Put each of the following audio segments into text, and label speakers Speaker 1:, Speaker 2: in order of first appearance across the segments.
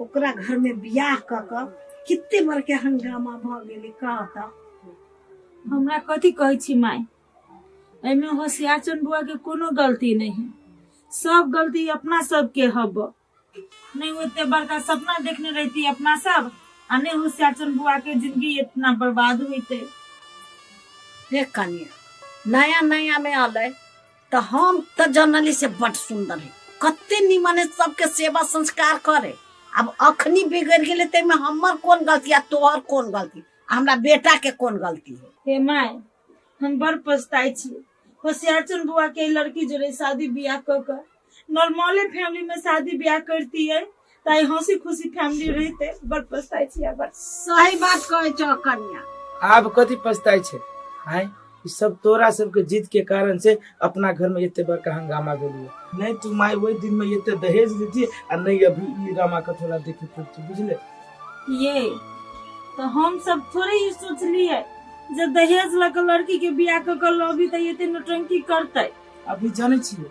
Speaker 1: ओकरा घर में बियाह क क कितने बड़ के हंगामा भ गेले कह त हमरा कथी कहै छी माय एहिमे होशियारचंद बुआ के कोनो गलती नहीं है सब गलती अपना सब के हब नहीं ओते बड़का सपना देखने रहती अपना सब आ नहीं होशियारचंद बुआ के जिंदगी इतना बर्बाद होते देख कनिया नया नया में अलै तो हम तो जनली से बड सुंदर है कते निमन है सबके सेवा संस्कार करे अब अखनी बिगड़ गेले ते में हमर कौन गलती आ तोहर कौन गलती आ हमरा बेटा के कौन गलती है हे माय हम बड़ पछताई छी होशियार चुन बुआ के ई लड़की जोड़े शादी ब्याह क कर नॉर्मले फैमिली में शादी ब्याह करती है ताई हंसी खुशी फैमिली रहते बड़ पछताई छी बड़ सही बात कहै छ कन्या आब कथी पछताई छै हाय ई सब तोरा सबके जिद के कारण से अपना घर में एते बड़का हंगामा भेलिए नहीं तू माय वही दिन में एते दहेज देती आ नहीं अभी ई रामा कथोला देखे पड़ती बुझले ये तो हम सब थोड़े ही सोचलिए जे दहेज लग लड़की के बियाह क के लबी त एते नौटंकी करते अभी जाने छिए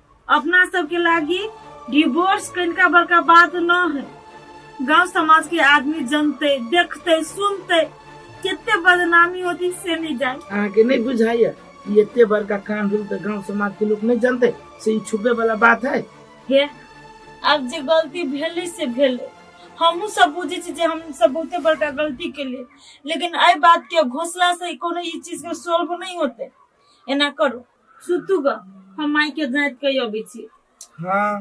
Speaker 1: अपना सबके लागी डिवोर्स कनिका बड़का बात न है गांव समाज के आदमी जनते देखते सुनते कितने बदनामी होती से नहीं जाए अहाँ के नहीं बुझाइए ई एते बड़का कान भेल तऽ गाँव समाज के लोग नहीं जानते से ई छुपे वाला बात है हे अब जे गलती भेले से भेले हमहू सब बुझे छी जे हम सब बहुते बड़का गलती के लिए लेकिन एहि बात के घोषला से कोनो ई चीज के सोल्व नहीं होते एना करू सुतू ग हम माई के जांच के अबै छी हाँ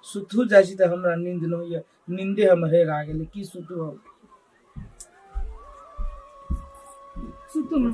Speaker 1: सुतू जाइ छी तऽ हमरा नींद न होइए नींदे हम हेर आ गेलै की सुतू हम सुतू माँ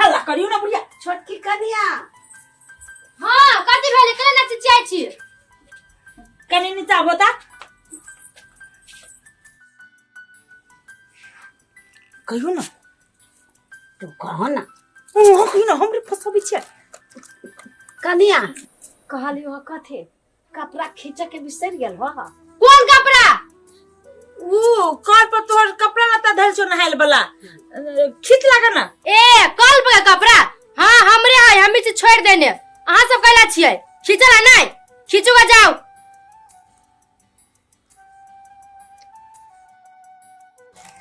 Speaker 1: हल्ला करियो ना बुढ़िया छोटकी कनिया हाँ कथी भेलै केना नाच चाहै छी कनी नीचा बोता कहियो ना तू कह ना ओ कहियो ना हमरे फसाबै छियै कनिया कहलियो कथी कपड़ा खींच के बिसर गेल हो कोन कपड़ा ऊ कल पर तोहर कपड़ा लता धल छो नहाइल वाला खींच लागा ना ए कल पर कपड़ा हाँ हमरे है हम इसे छोड़ देने अहाँ सब कैला छिए खींचला नहीं खींचूगा जाओ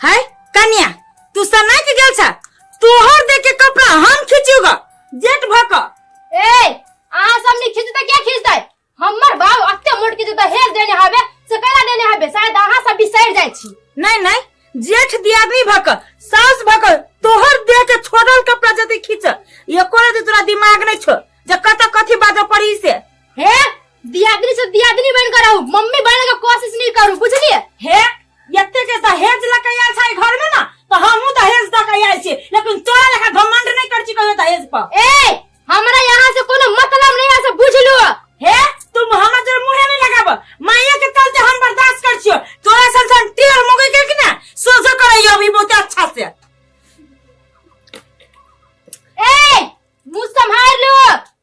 Speaker 1: है कन्या तू सना के गेल छ तोहर देख के कपड़ा हम खींचूगा जेट भक ए अहाँ सब नहीं खींचते क्या खींचते हमर बाप अत्ते मोट के जब हेर देने हवे से कैला देने हवे शायद अहाँ सब बिसर जाय छी नहीं नहीं जेठ दियादनी भक सास भक तोहर देह के छोड़ल कपड़ा जति खींच एको रति तोरा दिमाग नहीं छो जे कत कथी बाजऽ पड़ी से हे दियादनी से दियादनी बन कर रहू मम्मी बने के कोशिश नहीं करू बुझलिए हे एते के दहेज लके आयल छै घर में ना तो हमहू दहेज दऽ के आयल छी लेकिन तोरा लेखा घमंड नहीं कर छी कहियो दहेज पर ए हमरा यहाँ से कोनो मतलब नहीं है से बुझ लो हे तुम हमरा तोर मुंहे नहीं लगाब माया के चलते हम बर्दाश्त कर छियो तोरा सन सन टेढ़ मुगे के कि ना सोझो करैयो अभी बहुत अच्छा से ए मुंह संभाल लो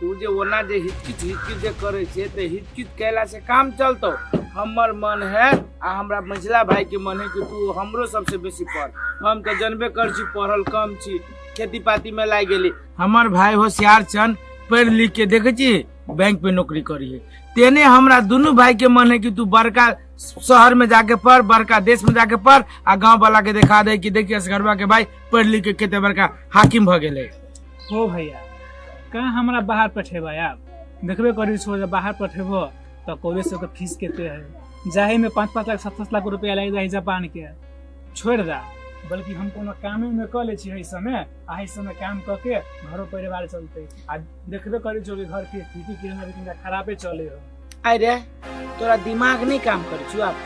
Speaker 1: तू जे ओना जे हिचकिच हिचकिच जे करे छे ते हिचकिच कैला से काम चलतो हमर मन है आ हमरा मझिला भाई के मन है कि तू हमरो सबसे बेसी पढ़ हम तो जनबे कर छी पढ़ल कम छी खेती पाती में लाग गेली हमर भाई होशियार चन पढ़ लिख के देखे छी बैंक पे नौकरी करी है तेने हमरा दुनू भाई के मन है कि तू बड़का शहर में जाके पढ़ बड़का देश में जाके पढ़ आ गांव वाला के दिखा दे कि देखिए असगरवा के भाई पढ़ लिख के कते बड़का हाकिम भ गेले हो भैया कहाँ हमरा बाहर पठेबै आब देखबे करी छो जे बाहर पठेबो तऽ कॉलेज सबके फीस कते है जाहे में पाँच पाँच लाख सात सात लाख रुपया लागि जाइ जापान के छोड़ दा बल्कि हम कोनो कामे में कऽ लै छी एहि समय आ एहि समय काम कऽ के घरो परिवार चलतै आ देखबे करी छो जे घर के स्थिति केहन अभी तनिका खराबे चले हो अरे तोरा दिमाग नहीं काम कर छु अब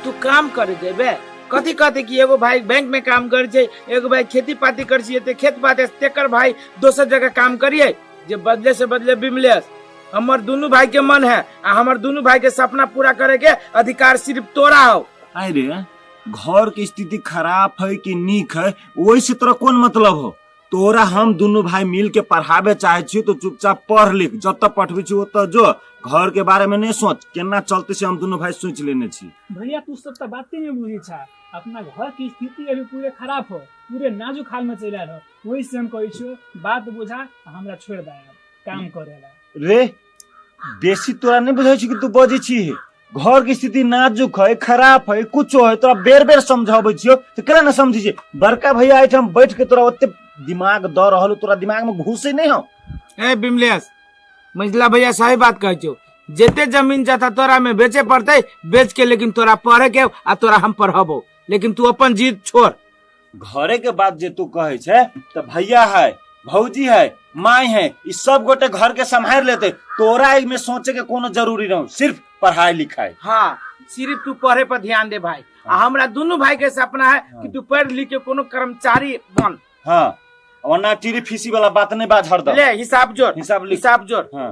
Speaker 1: तू काम कर देबे कथी कहते कि एगो भाई बैंक में काम कर छै एगो भाई खेती पाती कर छिए ते खेत पाती से तेकर भाई दोसर जगह काम करिए जे बदले से बदले बिमलेस हमर दुनू भाई के मन है आ हमर दुनू भाई के सपना पूरा करे के अधिकार सिर्फ तोरा हो अरे घर के स्थिति खराब है कि नीक है ओहि से तोरा कोन मतलब हो तोरा हम दुनू भाई मिल के पढ़ाबे चाहे छी तो चुपचाप पढ़ लिख जतऽ पठबै छी ओतऽ जो घर के बारे में नहीं सोच केना चलते से हम दुनू भाई सोच लेने छी भैया तू सब तो बाते नहीं बुझी छा अपना घर की स्थिति अभी पूरे खराब हो पूरे नाजुक हाल में चल रहा वही से हम कहै छियो बात बुझा आ हमरा छोड़ दे काम करे ला रे बेसी तोरा नहीं बुझे छी कि तू बजे छी घर के स्थिति नाजुक है खराब है कुछो है तोरा बेर बेर समझाबे छियो तो केना न समझी छी बड़का भैया एठाम बैठ के तोरा ओते दिमाग द रहल हो, तोरा दिमाग में घुसे नहीं हो ए बिमलेश मंझला भैया सही बात कहै छौ जते जमीन जथा तोरा में बेचे पड़तै बेच के लेकिन तोरा पढ़े के आ तोरा हम पढ़बो लेकिन तू अपन जीत छोड़ घरे के बात जे तू कहे छे तो भैया है भौजी है माई है ई सब गोटे घर के संभाल लेते तोरा इमे सोचे के कोनो जरूरी न हो सिर्फ पढ़ाई लिखाई हाँ सिर्फ तू पढ़े पर ध्यान दे भाई आ हमरा दुनू भाई के सपना है कि तू पढ़ लिख के कोनो कर्मचारी बन हाँ और ना टीरी फीसी वाला बात नहीं बात हरदम ले हिसाब जोड़ हिसाब लिख हिसाब जोड़ हाँ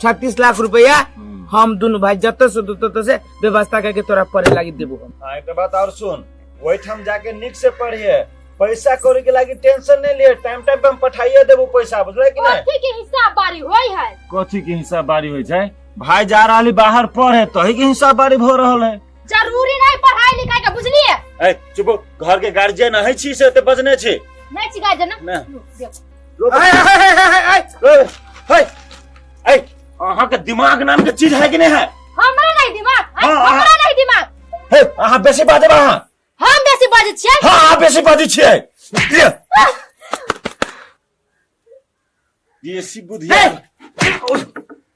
Speaker 1: छत्तीस लाख रुपया हम दोनों भाई जत से दू तत से व्यवस्था करके तोरा पढ़े लागी देबो हम हाँ एक बात और सुन वही हम जाके निक से पढ़िए पैसा कौड़ी के लागी टेंशन नहीं लिए टाइम टाइम पे हम पठाइए देबो पैसा बुझले कि नहीं कथी के हिसाब बारी होई है कथी के हिसाब बारी होइ छै भाई जा रहली बाहर पढ़े तही के हिसाब बारी भ रहल है जरूरी नहीं पढ़ाई लिखाई के बुझलिए ए चुप हो, घर के गार्जियन है छी से ते बजने छी नहीं छिका जना ना। देखो अहाँ के दिमाग नाम के चीज है कि नहीं है हमरा नहीं दिमाग आय, हाँ, हाँ। हमरा नहीं दिमाग हे, अहाँ बेसी बाजब अहाँ हम बेसी बाजै छियै हाँ अहाँ बेसी बाजै छियै लिअ। देसी बुद्धि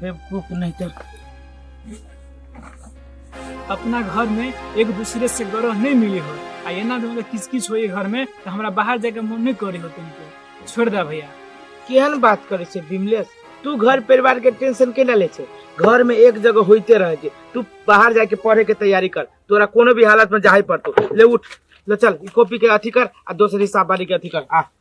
Speaker 1: बेवकूफ नहीं तो अपना घर में एक दूसरे से गरह नहीं मिले हो आ एना दिन अगर किस किस होई घर में तो हमरा बाहर जाके मन नहीं करे हो तुमको छोड़ दे भैया केहन बात करे छे विमलेश तू घर परिवार के टेंशन केना ले छे घर में एक जगह होते रह जे तू बाहर जाके पढ़े के तैयारी कर तोरा कोनो भी हालत में जाहे पड़तो ले उठ ले चल ई कॉपी के अथी कर आ दोसर हिसाब वाली के अथी कर आ